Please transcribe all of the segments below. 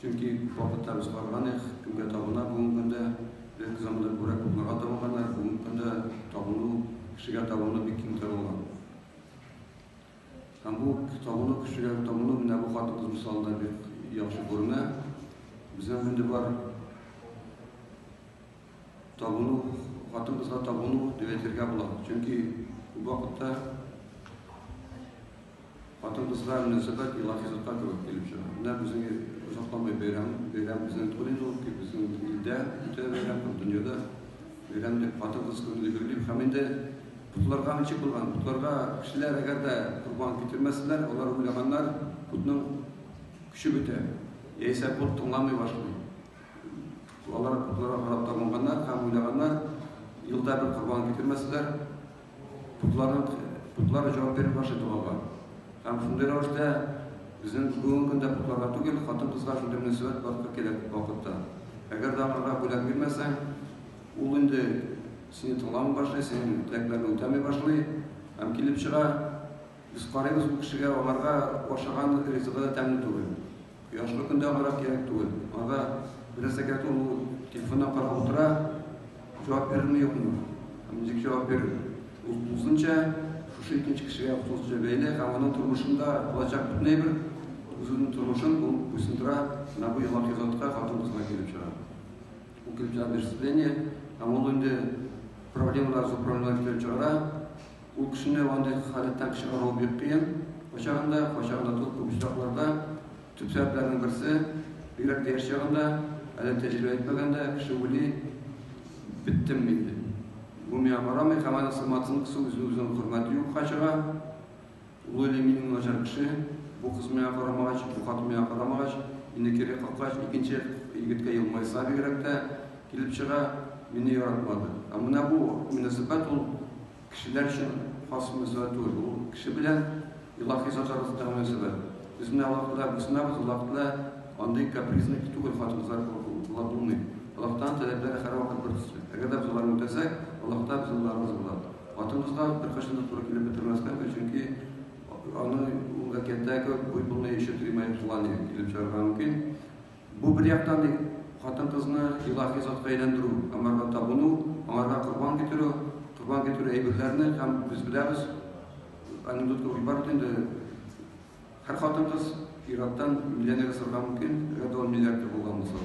Чөнки вакытларыбыз барган, эх, кемгә табына бүгенге көндә? Элекке заманда күбрәк попларга табынганнар, бүгенге көндә табыну, кешегә табыну бик киң таралган. Һәм бу табыну, кешегә табыну менә бу хатын-кыз мисалында бик яхшы күренә. Безнең инде бар Табыну, хатын-кызга табыну дип әйтергә була. Чөнки күп вакытта хатын-кызга мөнәсәбәт илаһи затка кебек килеп чыга. Менә безнең озакламый бәйрәм, бәйрәм безнең Тулин ул, безнең илдә үтә бәйрәм, дөньяда бәйрәм дип хатын-кыз көне дип билгеләп һәм инде Котларга ничек булган? Котларга кешеләр әгәр дә корбан китермәсәләр, алар уйлаганнар, котның көче бетә. Яисә кот тыңламый башлый. Алар котларга карап табынганнар һәм уйлаганнар, юлда бер корбан китермәсләр, котлары җавап биреп каршы торганга. Һәм шундый рәвештә безнең бүгенге көндә котларга түгел, хатын-кызга шундый мөнәсәбәт барлыкка килә күп вакытта. Әгәр дә аларга бүләк бирмәсәң, ул инде сине тыңламый башлый, синең теләкләрне үтәми башлый һәм килеп чыга, без карыйбыз бу кешегә, аңарга ашаган ризыгы да тәмле түгел. Кояшлы көндә гарак кирәк түгел. Анда бераз әкәт ул телефонына карап утыра, җавап бирерме юкмы? Ничек җавап бирер? Ул тулысынча шушы икенче кешегә тулысынча бәйле һәм аның тормышында булачак бөтен әйбер үзенең тормышын ул буйсындыра, менә бу елак язатка хатын кызга килеп чыга. Ул килеп чыга берсезление, һәм ул инде проблемалар, зур проблемалар килеп чыгара, Ул кешене андый халәттән кеше арылу бик кыен. Кайчагын да, кайчагын да тол күп очракларда төп сәбәпләрнең берсе, бигрәк тә яшь чагында, әле тәҗрибә итмәгәндә кеше уйлый, беттем мин дип. Бу миңа карамый һәм аның сымматысын кысу үзен-үзенең хөрмәте юкка чыга. Улы Ләминнең начар эше, бу кыз миңа карамагач, бу хатын миңа карамагач, мине кире каккач, икенче егеткә елмайса бигрәк тә килеп чыга, мине яратмады. Ә менә бу мөнәсәбәт ул кешеләр өчен хас мөнәсәбәт түгел, ул кеше белән илаһи зат арасындагы мөнәсәбәт. Без менә Аллаһ Тәгаләгә буйсынабыз, Аллаһ Тәгалә андый капризный түгел, хатын-кызлар кебек була булмый. Аллаһтан таләпләре һәрвакыт бертөсле. Әгәр дә без аларны үтәсәк, Аллаһ Тәгалә безнең Аллаһыбыз була. Атыбызга беркайчан да туры килеп бетермәскә, чөнки аны ул әкияттәге буй-буны ишетеп римая плане килеп чыгарга мөмкин. Бу бер яктан ник хатын-кызны илаһи затка әйләндерү, аңарга табыну, аңарга корбан китерү, корбан китерү әйберләрне һәм без беләбез, анекдотка уйбар инде, һәр хатын-кыз ираттан миллионер ясарга мөмкин, әгәр дә ул миллиардер булган булса,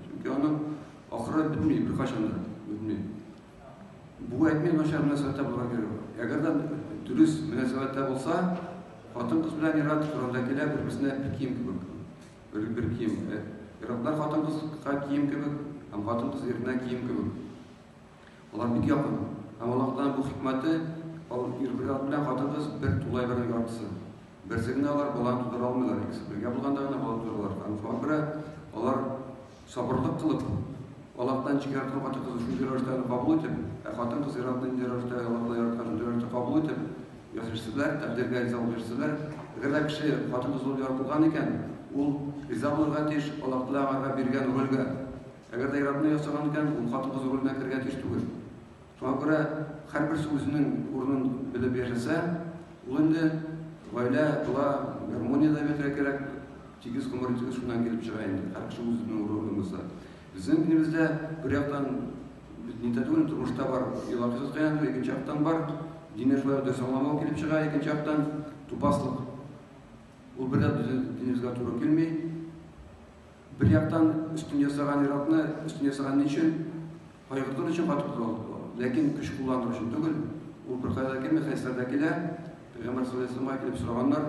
чөнки аны ахыры бетми, беркайчан да бетми. Бу әйтми начар мөнәсәбәттә булырга кирәк. Әгәр дә дөрес мөнәсәбәттә булса, хатын-кыз белән ир-ат Коранда килә бер-берсенә бер кием кебек. Бер, бер кием. Э, Ир-атлар хатын-кызга кием кебек, һәм хатын-кыз иренә кием кебек. Алар бик якын. Һәм Аллаһтан бу хикмәте, ал ир ир-ат белән хатын-кыз бер тулай бер яртысы. Берсе генә алар баланы тудыра алмыйлар, икесе бергә булганда гына бала тудыралар. Һәм шуңа күрә алар Сабырлык кылып, Аллаһтан ничек яраткан хатын-кызны шунча рәвештә аны кабул итеп, ә хатын-кыз ир-атны нинди рәвештә Аллаһтан яраткан шундый рәвештә кабул итеп яшәшсеннәр, тәкъдиргә риза булып яшәсеннәр. Әгәр дә кеше хатын-кыз булып яратылган икән, ул риза булырга тиеш Аллаһ Тәгалә аңарга биргән рольгә. Әгәр дә ир-атны ясаган икән, ул хатын-кыз роленә керергә тиеш түгел. Шуңа күрә һәрберсе үзенең урынын белеп яшәсә, ул инде гаилә була, гармония да бетә кирәк. Тигез гомер тигез шуннан килеп чыга инде. Һәр кеше үзенең урынын булса. Безнең илебездә бер яктан нидә түгел, тормышта бар, елаксыз кыян, икенче яктан бар, дине шулай дөрес аңламау килеп чыга, икенче яктан тупаслык. Ул бер дә безнең динебезгә туры килми. Бер яктан өстен ясаган ир-атны өстен ясаган ни өчен? Кайгыртыр өчен кайтып ул. Ләкин көч кулландыр өчен түгел. Ул бер кайда килми, хәйсәрдә килә. Пәйгамбәр саллаллаху алейһи килеп сораганнар.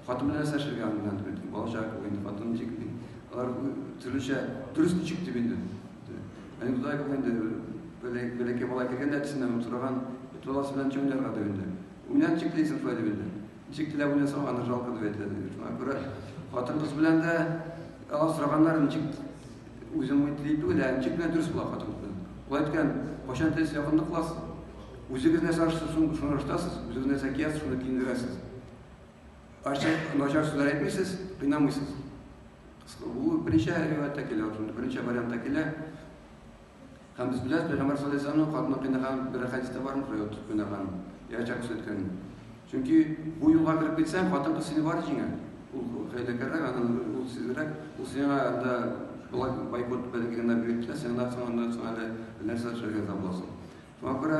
Хатын белән нәрсә эшләргә аннан түгел. Балача инде хатын ничек ди. Алар төрлечә дөрес ничек дип инде. Әни туда инде бәләкәй бала кергән әтисеннән сораган. Туласы белән чөңнәргә дигәндә. Уйнап чиклисен файда бирде. Ничек теләп уйнасаң, аны жалко дип әйтәләр. Шуңа күрә хатын-кыз белән дә алар сораганнар, ничек үзем үтли түгел, ә ничек кенә дөрес була хатын-кыз белән. Ул әйткән, кайчан телсез якынлык кыласыз, үзегез нәрсә ашыгыз, шуны ашытасыз, үзегез нәрсә киясез, шуны киендерәсез. Ачы, начар сүзләр әйтмисез, кыйнамыйсыз. Бу беренче рәвәттә килә, беренче вариантта килә. Һәм без беләбез, пәйгамбәр саллаллаһу алейһи ва сәлләмнең катына кыйнаган бер рәхәт истә бар микро ут кыйнаган, яшә күрсәткән. Чөнки бу юлга кереп китсәң, хатын кыз сине бар җиңә. Ул хәйләкәррәк, аннан ул сизрәк, ул сиңа анда болай байкот белән генә бирде, сиңа да соңыннан соң әле нәрсә эшләргә дә буласың. Шуңа күрә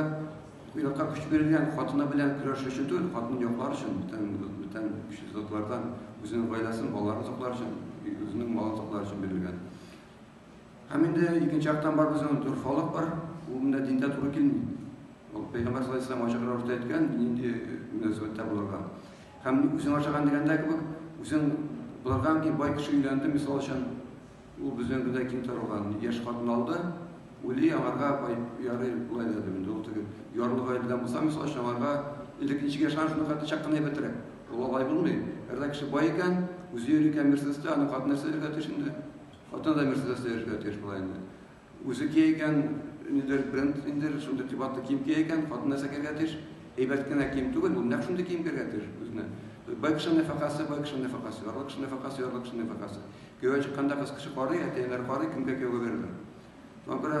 уйлакка көч бирелгән хатыны белән көрәш өчен түгел, хатын яклар өчен, бүтән бүтән көчле затлардан үзенең гаиләсен, балаларын саклар өчен, үзенең малын саклар өчен бирелгән. Һәм инде икенче яктан бар безнең дөрфалык бар, ул менә диндә туры килми. Ул пәйгамбәр саллаллаһу алейһи ачык рәвештә әйткән, нинди мөнәсәбәттә булырга. Һәм үзең ашаган дигәндә кебек, үзең булардан ки бай кеше өйләнде, мисал өчен, ул безнең генә ким торган, яшь хатын алды, ули аңарга бай ярый булай да димен, ул теге ярлы гаиләдән булса, мисал өчен аңарга илекенче яшәгән шуны хәтта чак кына әйбәтрәк. Ул алай булмый. Әгәр кеше бай икән, үзе йөри икән Мерседеста, аны хатынасы иргә тешенде. Хатын да Мерседес сөйәргә тиеш була инде. Үзе киегән нидер бренд инде шундый кыйбатлы кием киегән, хатын нәрсә киергә тиеш? Әйбәт кенә кием түгел, ул нәкъ шундый кием киергә тиеш үзенә. Бай кеше нәфакасы, бай кеше нәфакасы, ярлы кеше нәфакасы, ярлы кеше нәфакасы. Кияүгә чыкканда кыз кеше карый, әтиәннәр карый, кемгә кияүгә бирелер. Шуңа күрә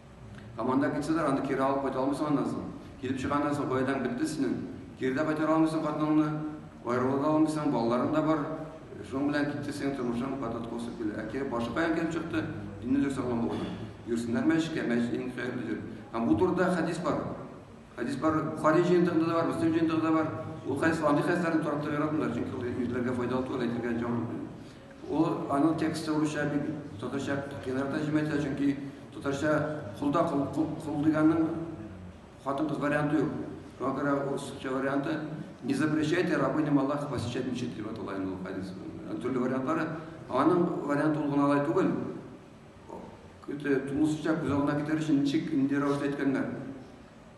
Һәм анда китсәләр, аны кире алып кайта алмыйсың аннан соң. Килеп чыганнан соң, гаиләң бетте синең. Кире дә кайтара алмыйсың хатыныңны, аерыла да алмыйсың, балаларың да бар. Шуның белән китте синең тормышың, катат косып килә. Ә кире башы каян килеп чыкты? Динлелек сакланмаудан. Йөрсеннәр мәчеткә, мәчет иң хәерле җир. Һәм бу турыда хәдис бар. Хәдис бар, Бухари җыентыгында да бар, Мөслим җыентыгында да бар. Ул хәдис андый хәдисләрне таратырга яратмыйлар, чөнки ул ирләргә файдалы түгел, әйтергә җаман. Ул аның тексты русча бит, татарча кыенрак тәрҗемә итә, чөнки татарча кулда кул, кул, кул дигәннең хатын-кыз варианты юк. Шуңа күрә русча варианты не запрещайте рабыням Аллаха посещать мечеть дип атала инде ул хадис. Төрле вариантлары. Аның варианты ул гына алай түгел. Көтә, тулысынча күз алдына китерер өчен ничек, нинди рәвештә әйткәннәр.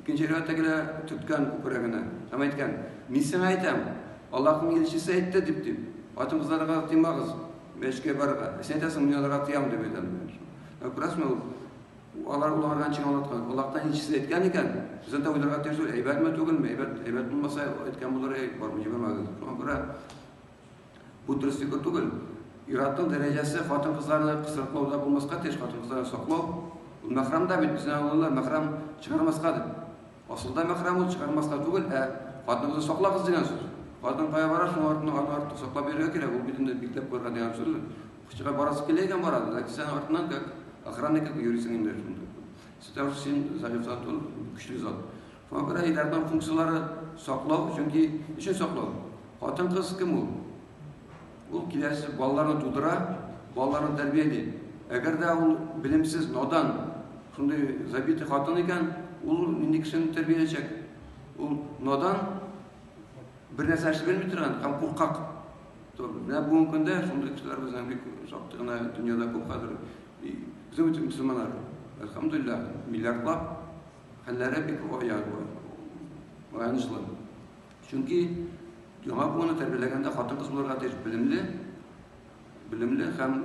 Икенче риваятта генә төрткән күкрәгенә һәм әйткән, Мин сиңа әйтәм, Аллаһның илчесе әйтте дип, дип, хатын-кызларга тыймагыз мәчеткә барырга. Ә син әйтәсең, мин аларга тыям дип әйтәм. Ә күрәсеңме, ул алар уйларга ничек аңлаткан? Аллаһтан илчесе әйткән икән, бездән дә уйларга тиеш түгел, әйбәтме, түгелме, әйбәт, әйбәт булмаса әйткән булыр, әй, барып җибәрмәгез. Шуңа күрә Бу дөрес фикер түгел. Ир-атның дәрәҗәсе хатын-кызларны кысрыклауда булмаска тиеш, хатын-кызларны саклау. Ул мәхрам да бит, безнең авыллар мәхрам чыгармаска дип. Асылда мәхрам ул чыгармаска түгел, ә хатыныгызны саклагыз дигән сүз. Хатын кая бара, шуның артыннан аны артык саклап йөрергә кирәк, ул бит инде бикләп куярга дигән сүз. Укытучыга барасы килә икән бара, ләкин син аның артыннан как охранник итеп йөрисең инде шунда. Син Зариф зат ул, көчле зат. Фабра Илярның функцияләре саклау, чөнки өчен саклау. Хатын-кыз кем ул? Ул киләсе балаларны тудыра, балаларны тәрбияли. Әгәр дә ул белемсез, надан, шундый забитый хатын икән, ул нинди кешене тәрбияләячәк? Ул надан, бер нәрсә эшли белми торган һәм куркак. Менә бүгенге көндә шундый кешеләр безнең бик шактый гына дөньяда күп хәзер. Безнең мөселманнар, әлхәмдулиллаһ, миллиардлап Хәлләре бик аяз болар, аянычлы. Чөнки яңа буынны тәрбияләгәндә хатын-кыз булырга тиеш белемле, белемле һәм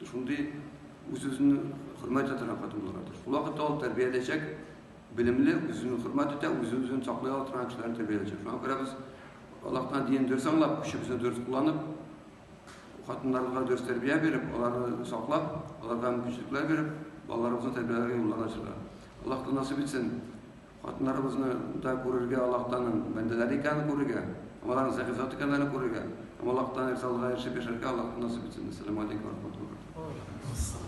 шундый үз-үзен хөрмәт итә торган хатын булырга тиеш. Шул вакытта ул тәрбияләячәк белемле, үзен хөрмәт итә, үз-үзен саклый ала торган кешеләрне тәрбияләячәк. Шуңа күрә без Аллаһтан динен дөрес аңлап, көчебезне дөрес кулланып, Хатыннарга дөрес тәрбия биреп, аларны саклап, аларга мөмкинчелекләр биреп, балаларыбызны тәрбияләргә юллар ачыла. Аллаһтан насыйп итсен, хатыннарыбызны да күрергә, Аллаһтаның бәндәләре икәнен күрергә, һәм аларның сәхи зат икәннәрен күрергә, һәм Аллаһтан ризалыга ирешеп яшәргә Аллаһтан насыйп итсен. Әссәламү алейкүм вә рахмәтуллаһи вә баракатүһү.